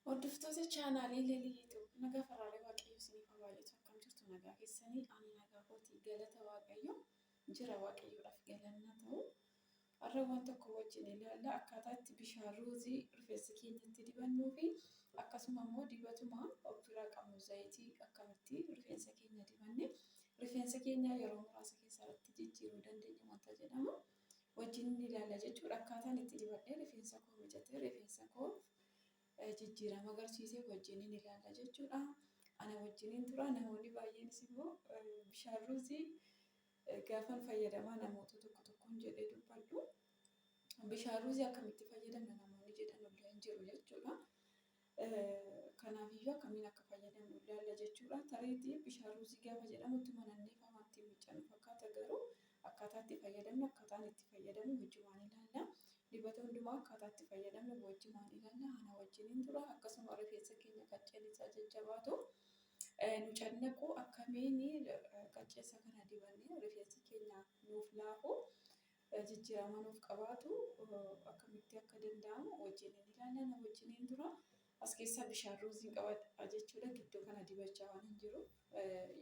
Hordoftoota chaanaalii Lelii Yuutuub nagaa faraalee waaqayyoo isiniif haa baay'atu akkam jirtu nagaa keessanii ani nagaa kooti galata waaqayyoo jira waaqayyoodhaaf galanna ta'u har'a waan tokko wajjin ilaalla akkaataa itti bishaan ruuzii rifeensa keenyatti dibannuu fi akkasuma immoo dibatuma of biraa qabnu zayitii akkamitti rifeensa keenya dibanne rifeensa keenya yeroo muraasa keessatti jijjiiruu dandeenya wanta jedhamu wajjin ni ilaalla jechuudha. Akkaataan itti dibadhee rifeensa koo miicatee rifeensa koof jijjiirama agarsiisee wajjin ni ilaalla jechuudha. Ana wajjiniin tura namoonni baay'eenis immoo bishaan ruuzii gaafan fayyadamaa namoota tokko tokkoon jedhee dubbadhu. Bishaan ruuzii akkamitti fayyadamna namoonni jedhan illee hin jiru jechuudha. Kanaafiyyuu akkamiin akka fayyadamnu ilaalla jechuudha. Tareetii bishaan ruuzii gaafa jedhamu itti manannee faa waan ittiin miiccannu fakkaata garuu akkaataa itti fayyadamnu akkaataan itti fayyadamnu wajjumaan ilaalla. Dibata hundumaa akkaataa itti fayyadamnu wajjumaan ilaalla. Ana wajjiniin tura akkasuma rifeensa keenya qacceen isaa jajjabaatu nu cannaqu akkamiin qaccee isaa kana dibannee rifeensi keenya nuuf laafu jijjiir amanuuf qabaatu akkamitti akka danda'amu wajjiniin ilaalla. Na wajjiniin dura as keessaa bishaan ruuziin qabadha jechuudha. Gidduu kana dibachaa waan hin jiru.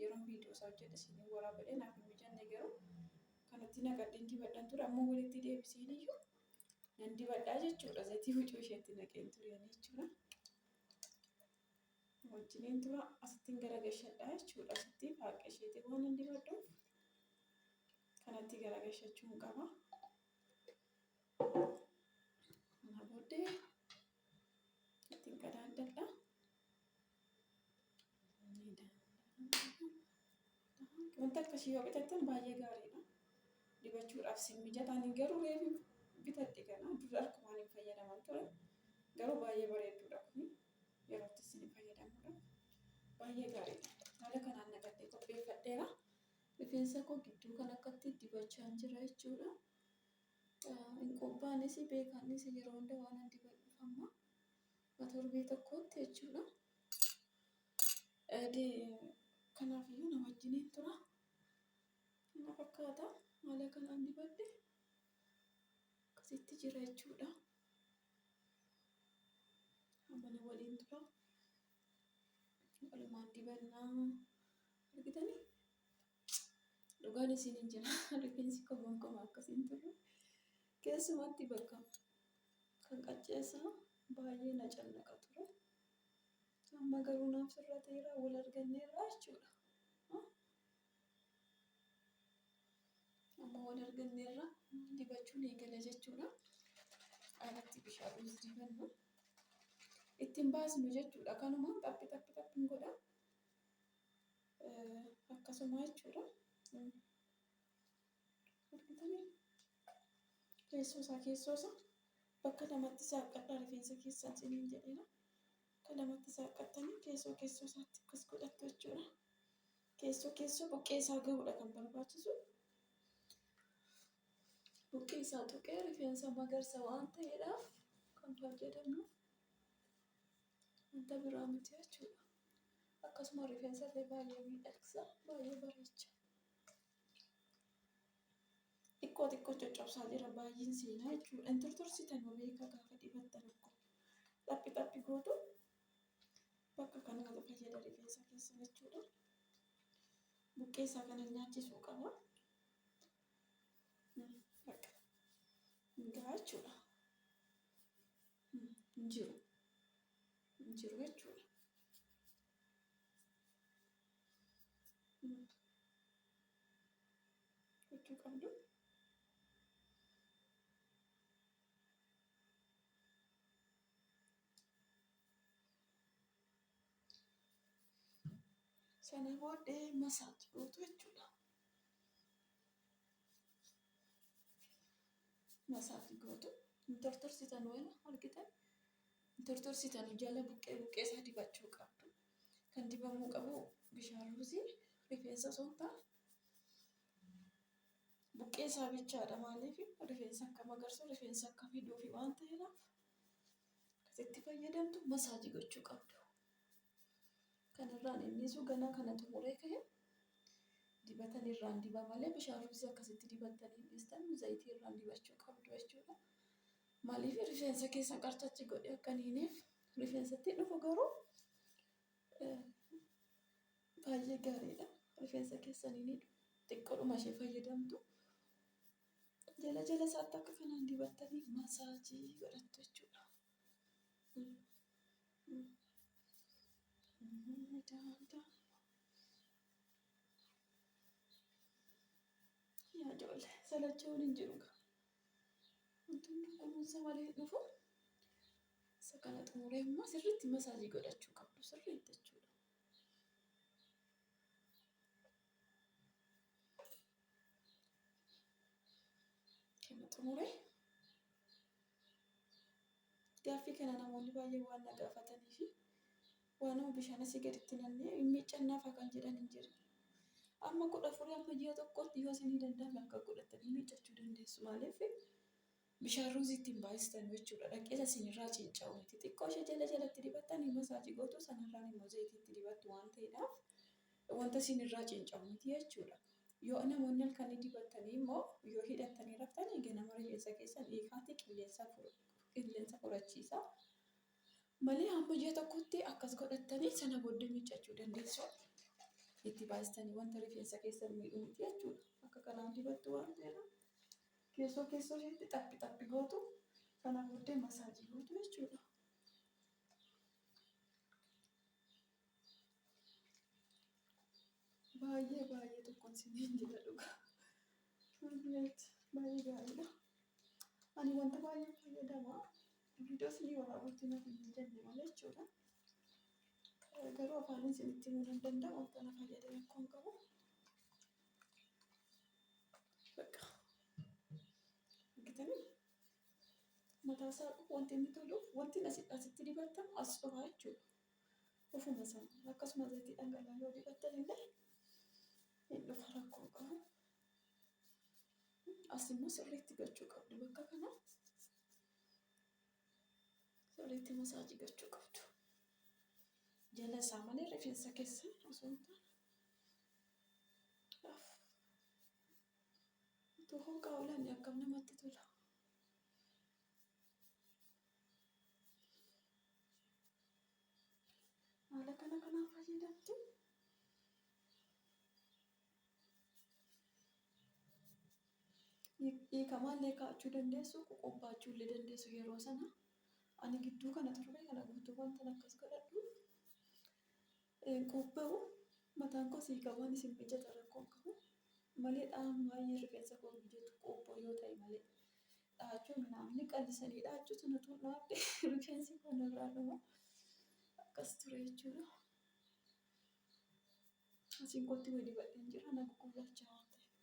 Yeroon viidiyoo isaa hojjedhe isiniin waraabadhe naaf hin mijanne garuu kanatti naqadheen dibadhan ture. Amma walitti deebiseen iyyuu nan dibadhaa jechuudha. Zayitii hucuu isheetti naqeen ture jechuudha. Wajjiniin dura asittiin gara gashadhaa jechuudha. Asittiin haaqa isheetiin waan hin dibadhuuf kanatti garagashachuun qaba. Kana booddee ittiin qadaaddadha. Wanta akkasii yoo bitattan baay'ee gaariidha. Dibachuudhaaf sin mijataan garuu reefu bitadhe kana dura akkumaan hin fayyadaman ture. Garuu baay'ee bareedduudha kun yerootti sin fayyadamuudha. Baay'ee gaariidha. Haala kanaan naqadhee qopheeffadheera. Rifeensa koo gidduu kan akkatti dibachaan jira jechuudha. Hin qubbaanis beekaanis yeroo hunda waan an dibadhuuf amma akka torbee tokkootti jechuudha. Kanaaf iyyuu na wajjiniin tura. Kana fakkaata haala kanaan dibadhe akkasitti jira jechuudha. Amma na waliin tura. Walumaan dibannaa argitanii dhugaan isin hin jira rifeensi koo gonkumaa akkas hin turre keessumatti bakka kan qacceessaa baay'ee na cannaqa ture amma garuu naaf sirrateera wal arganneerra jechuudha amma wal arganneerra dibachuun eegala jechuudha alatti bishaan dibanna ittiin baasnu jechuudha kanumaan xaphi xaphi xaphi hin godhaa akkasuma jechuudha. Argitanii? Keessoo isaa keessoo isaa bakka lamatti saaqqadhaa rifeensa keessaa ciniin jedheera. Bakka lamatti saaqqattanii keessoo keessoo isaatti akkas godhattu jechuudha. Keessoo keessoo buqqee isaa gahuudha kan barbaachisu. Buqqee isaa tuqee rifeensa magarsa waan ta'eedhaaf kan fayyadamnu. Wanta biraa miti jechuudha. Akkasuma rifeensa illee baay'ee miidhagsa, baay'ee bareecha. Xiqqoo xiqqoo coccobsaa jira baay'een seenaa jechuudha. Hin tortorsitan beeka gaafa dibattan akkuma xaphi xaphi gootu bakka kanatu fayyada rifeensa keessa jechuudha. Buqqee isaa kana nyaachisuu qaba. Bakka hin gahaa jechuudha. hin jiru hin jiru jechuudha. Gochuu qabdu. Sana booddee masaaj gootu jechuudha. masaafi gootu hin tortorsitan wala argitan hin tortorsitani jala buqqee buqqee isaa dibachuu qabdu kan dibamuu qabu bishaan ruuzii rifeensa osoo hin taane buqqee isaa bichaadha maaliif rifeensa akka magarsu rifeensa akka fiduufi waan ta'eedhaaf akkasitti fayyadamtu masaajii gochuu qabdu Kan irraan innisu ganaa kana xumuree ka'e dibatan irraan diba malee bishaan rifeensa akkasitti dibattan hin dhiistan zayitii irraan dibachuu qabdu jechuudha. Maaliif rifeensa keessa qarcachi godhe akka hin hineef rifeensatti dhufu garuu baay'ee gaariidha. Rifeensa keessan hin hidhu xiqqoodhuma ishee fayyadamtu. Jala jala isaatti akka kanaan dibattanii masaajii godhattu jechuudha. Yaa ijoollee salachaa waliin jiru kaa. Wanti hundi kunuunsa malee dhufu isa kana xumuree immoo sirriitti masaajii godhachuu qabdu sirriitti jechuudha. kana xumure gaaffii kana namoonni baay'een waan na gaafatanii fi waanuma bishaan asii gaditti nannee hin miiccannaafa kan jedhan hin jiru. Amma kudha afurii amma ji'a tokkootti yoo isinii danda'ame akka godhatanii miiccachuu dandeessu maaliif Bishaan ruuzii ittiin baay'istanu jechuudha. Dhaqeesa isinirraa cinca'u miti. Xiqqoo ishee jala jalatti dibattanii masaajii gootu sanarraan immoo zayitii itti dibattu waan ta'eedhaaf wanta isinirraa cinca'u miti jechuudha. Yoo namoonni halkanii dibattanii immoo yoo hidhattanii raftanii ganama rifeensa keessan hiikaatii qilleensa qilleensa fudhachiisaa. Malee hamma ji'a tokkotti akkas godhattanii sana booddee miiccachuu dandeessu. Itti baay'istanii wanta rifeensa keessan miidhu miti jechuudha. Akka kanaan dibattu waan ta'eedhaaf. Keessoo keessoo isheetti xaphi xaphi gootu sana booddee masaajii gootu jechuudha. Baay'ee baay'ee tokkoon siniin jedha dhugaa. Turbileet baay'ee gaariidha. Ani wanta baay'ee fayyadama. Viidiyoo sinii waraabutti naaf hin jenne malee jechuudha. Garuu afaan isinitti himuu nan danda'u wanta na fayyade rakkoon qabu. Bakka. Argitanii? Mataa isaa wanti inni toluuf wanti asi asitti dibattamu as dhufaa jechuudha. Ofuma isaa akkasuma zayitii dhangala'aa yoo dibattan illee hin dhufa rakkoo hin qabu. As immoo sirriitti gochuu qabdu bakka kana. Sirriitti masaajii gochuu qabdu. Jala isaa malee rifeensa keessan osoo hin taane. Laaf. Utuu hooqaa oolanii akkam namatti tola. Haala kana kanaan fayyadamtu. dhiikamaallee kaa'achuu dandeessu qoqobbaachuullee dandeessu yeroo sana ani gidduu kana turre kana guutuu wantan akkas godhadhuuf qobba'u mataan koo siikamaan isin mijata rakkoon qabu malee dha'aan baay'ee rifeensa koo mijatu qobboo yoo ta'e malee dha'achuun naamni qallisanii dha'achuu sana tuun dhaabde rifeensi koo narraa dhuma akkas ture jechuudha. Asiin kootti wayii dibadheen jira na guggullaachaa waan ta'eef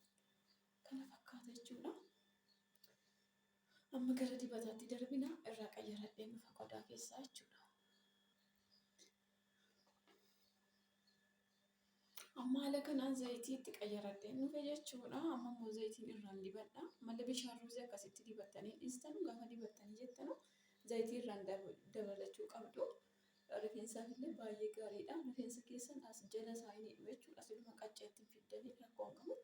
kana fakkaata jechuudha. Amma gara dibataatti darbina irraa qayyaradheen dhufa qodaa keessaa jechuudha. Amma haala kanaan zayitii itti qayyaradheen dhufe jechuudha. Amma immoo zayitiin irraan dibadha. Malee bishaan ruuzii akkasitti dibattanii dhiistanu gaafa dibattanii jettanu zayitii irraan dabalachuu qabdu. Rifeensaaf illee baay'ee gaariidha. Rifeensa keessan as jala isaa hin hidhu jechuudha. Siluma qacceetti hin fiddanii rakkoon qabu.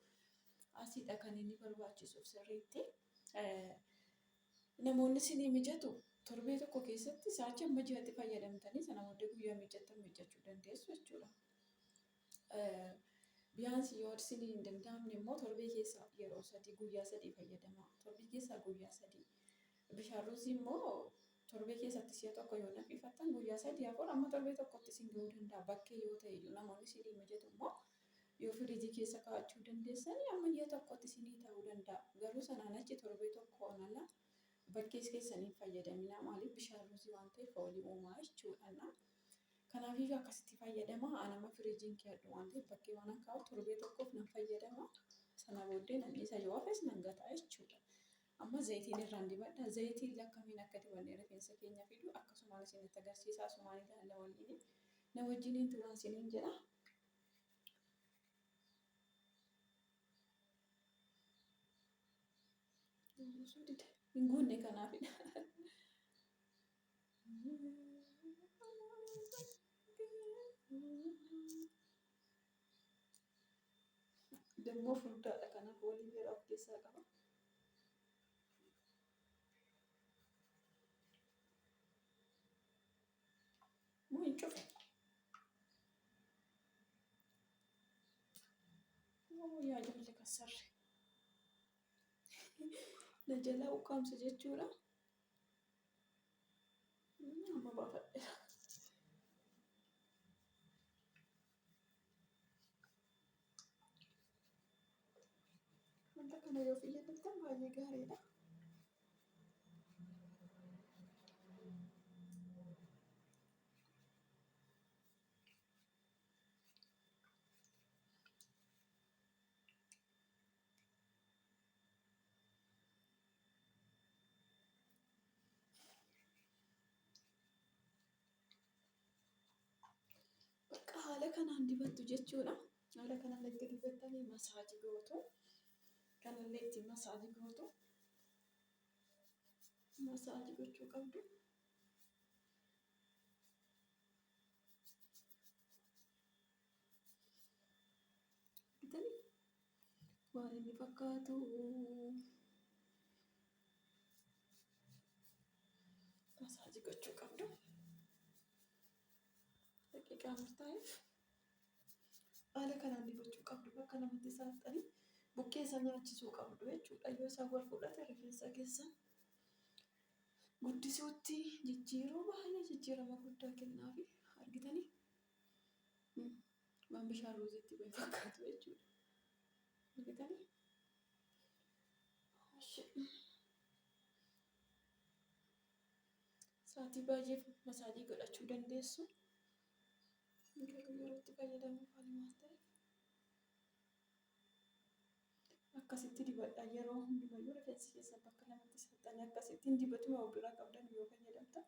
Asiidha kan inni barbaachisuuf sirriitti. Namoonni isinii mijatu torbee tokko keessatti sa'aatii amma ji'atti fayyadamtanii sana booddee guyyaa miiccattan miiccachuu dandeessu jechuudha. Biyaansii yoo isinii hin danda'amne immoo torbee keessa yeroo sadii guyyaa sadii fayyadamaa. Torbee keessaa guyyaa sadii. Bishaan ruuzii immoo torbee keessatti si'a tokko yoo danfifattan guyyaa sadii afur amma torbee tokkotti isin ga'uu danda'a. Bakkee yoo ta'e iyyuu namoonni isinii mijatu immoo yoo firiijii keessa kaa'achuu dandeessan amma ji'a tokkotti isinii ta'uu danda'a. Garuu sanaan achi torbee tokkoon ala bakkees keessan hin fayyadaminaa. Maaliif bishaan ruuzii waan ta'eef foolii uumaa jechuudha. Kanaafiyyuu akkasitti fayyadama. An amma firiijiin keeyadhu waan ta'eef bakkee waan an kaa'u torbee tokkoof nan fayyadama. Sana booddee nan dhiisa yoo hafes nan gata jechuudha. Amma zayitiin irraan dibadha. Zayitiin lakkamiin akka dibannee rifeensa keenya fidu akkasumaan isinitti agarsiisa. Asumaan ilaalla waliin. Na wajjiniin turaan isiniin jedha. Hin guunne kanaafidha. Dammoo furdaadha kana foolii beeraa of keessaa qaba. Moo hin cufe? Moo yaa jaalle kassarre. Na jalaa ukkaamsa jechuudha. Amma baafadheera. Wanta kana yoo fayyadamtan baay'ee gaariidha. Bakka haala kanaan dibattu jechuudha. Haala kanaan erga dibattanii masaajii gootu. Kanallee ittiin masaajii gootu. Masaajii gochuu qabdu. Argitanii? Waan inni fakkaatu masaajii gochuu qabdu. Daqiiqaa murtaa'eef haala kanaan dibachuu qabdu bakka namatti saaxxanii buqqee isaa nyaachisuu qabdu jechuudha. Yoo isaan wal fudhate rifeensa keessan guddisuutti jijjiiruu baay'ee jijjiirama guddaa kennaafi argitanii? Waan bishaan ruuziitti bahe fakkaatu jechuudha. Argitanii? Sa'aatii baay'eef masaajii godhachuu dandeessu. Garuu yeroo itti fayyadamu maal maal ta'e? akkasitti dibadha yeroo hundumayyuu rifeensi keessan bakka lamatti saxxanii akkasittiin dibatuma walduraa qabdan yoo fayyadamtan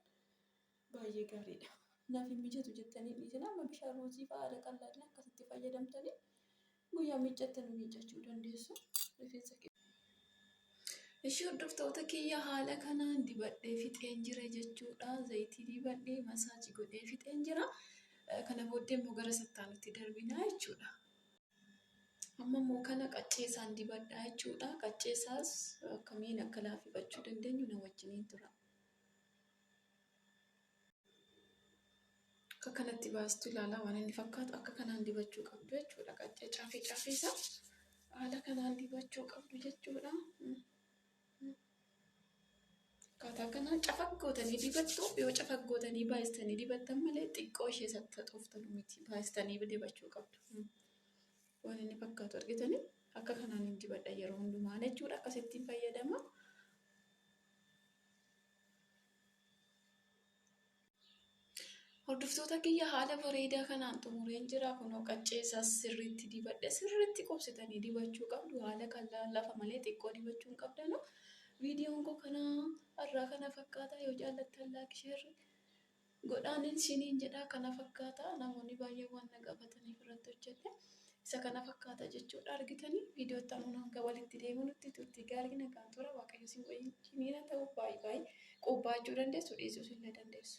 baay'ee gaariidha. Naaf hin mijatu jettanii dhiisin amma bishaan ruuzii fa'aa haala qal'aadhaan akkasitti fayyadamtanii guyyaa miiccattan miiccachuu dandeessu. Rifeensa Ishii hordoftoota kiyya haala kanaan dibadhee fixeen jira jechuudha. Zayitii dibadhee masaajii godhee fixeen jira. Kana booddee immoo gara sattaanutti darbinaa jechuudha. Amma immoo kana qaccee isaan dibadhaa jechuudha. Qaccee isaas akkamiin akka laafifachuu dandeenyu na wajjiniin tura. Akka kanatti baastu ilaalaa waan inni fakkaatu akka kanaan dibachuu qabdu jechuudha. Qaccee caafii caafii isaa haala kanaan dibachuu qabdu jechuudha. Akkaataa kanaa cafaq gootanii dibattu. Yoo cafaq gootanii baay'istanii dibattan malee xiqqoo ishee saxxaxooftan miti. Baay'istanii dibachuu qabdu. Waan inni fakkaatu argitanii akka kanaan hin dibadha yeroo hundumaa jechuudha. Akkasittiin fayyadama. Hordoftoota kiyya haala bareedaa kanaan xumureen jira. Kunoo qaccee isaas sirriitti dibadhe. Sirriitti qubsitanii dibachuu qabdu. Haala kan lafa malee xiqqoo dibachuu hin qabdanu. Viidiyoon koo kana irraa kana fakkaata. Yoo jaallattan laayik sheerri godhaanin isiniin jedha. Kana fakkaata namoonni baay'een waan na gaafataniif irratti hojjedhe. Isa kana fakkaata jechuudha argitanii viidiyoo itti aanuun hanga walitti deemunutti turtii gaarii nagaan tura waaqayyo isin wajjiniina ta'u baay'ee baay'ee qubbaachuu dandeessu dhiisuus illee dandeessu.